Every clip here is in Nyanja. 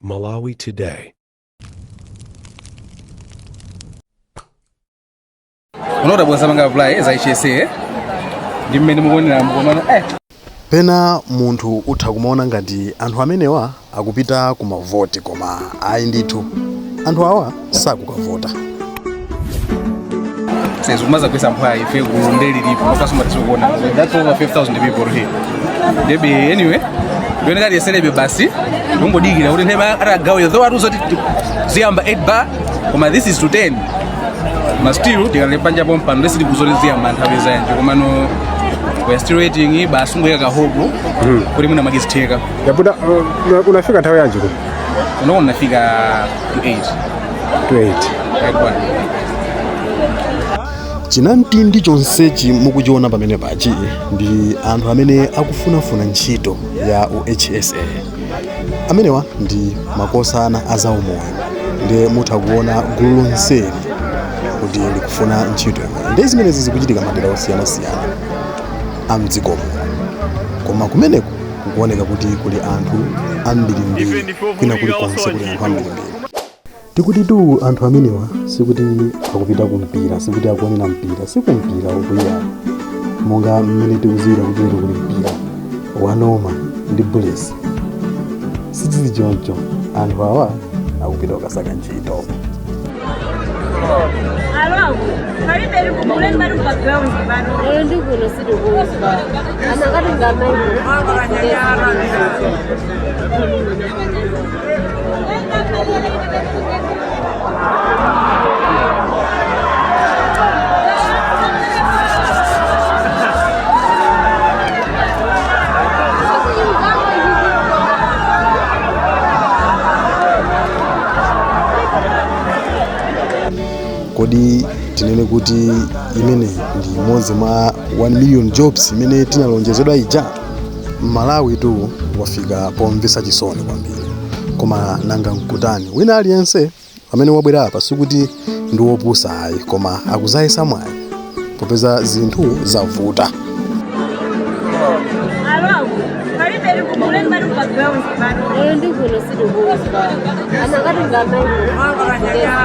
Malawi Today. unadabwa usanapange apply za hsa ndi mmene mukuonera mukomano eh pena munthu utha kumaona ngati anthu amenewa akupita ku mavoti koma ayi ndithu anthu awa sakukavota zikumadzakubweretsa mphwayi ife gulu nde lilipo as you can see kuona that's over 5000 people here ndebe anyway ndinaona kuti tiyeserebe basi kungodikira kuti nthawi atagaweyo though atiuza kuti ziyamba 8 bar koma this is to 10 ma still tikalipanja pompano nde sitikudziwa kuti ziyamba nthawi yanji komano we are still waiting basi kungoika ka hope kuti mwina mwake zitheka yabuda unafika nthawi yanji kuno ndinafika chinamtindi chonsechi mukuchiona pamene apachi ndi anthu amene akufunafuna ntchito ya uhsa amenewa ndi makosana a zaumoyo ndiye mutha kuona gulu lonseli kuti likufuna ntchito ndiye zimenezi zikuchitika madera osiyanasiyana a mdziko muno koma kumene Kukuoneka kuti kuli anthu ambirimbiri kwina kulikonse kuli anthu ambirimbiri. Tikutitu anthu amenewa sikuti akupita ku mpira, sikuti akuonera mpira, si ku mpira ukuyi monga mmene tikudziwira kuti lero kuli mpira wa Noma ndi Bullets. Sizili choncho, anthu awa akupita kukasaka ntchito. Lero ndi kuno sitikuuzwa. Anakati ngamaipo. kodi tinene kuti imeneyi ndi imodzi mwa 1 million jobs imene tinalonjezedwa ija mmalawitu wafika pomvetsa chisoni kwambiri koma nanga nkutani wina aliyense amene wabwera apa sikuti ndi wopusa ayi koma akuzayesa mwayi popeza zinthu zavuta Oyo ndi kuno sili kuuzwa. Anakati ngamayi.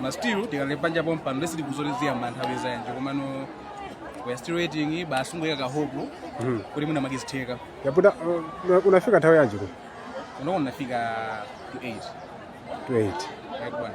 ma still tikadali panja pompano lesi tikuzolezera manthawi zanje komano we are still waiting basi kungoyika kahope kuti mwina zikazitheka yaputa uh, unafika nthawi yanji ku unaona nafika to 8 to 8 yakwana